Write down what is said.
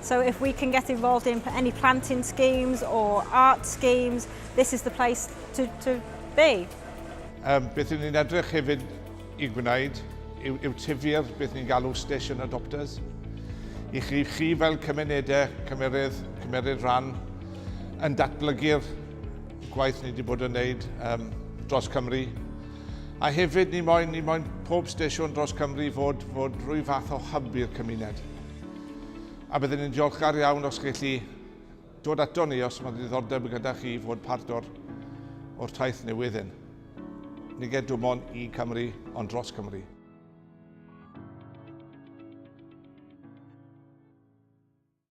So if we can get involved in any planting schemes or art schemes, this is the place to, to be. Um, beth ydyn ni'n edrych hefyd i gwneud yw, yw tyfu'r beth ni'n galw station adopters. I chi, chi fel cymunedau cymerydd, cymeryd rhan yn datblygu'r gwaith ni wedi bod yn wneud um, dros Cymru. A hefyd ni moyn, ni moyn pob station dros Cymru fod, fod rhyw fath o hyb i'r cymuned. A byddwn ni'n diolchgar iawn os chi chi dod ato ni os mae ddiddordeb gyda chi i fod part o'r, o'r taith newydd hyn. Ni ged dim ond i Cymru, ond dros Cymru.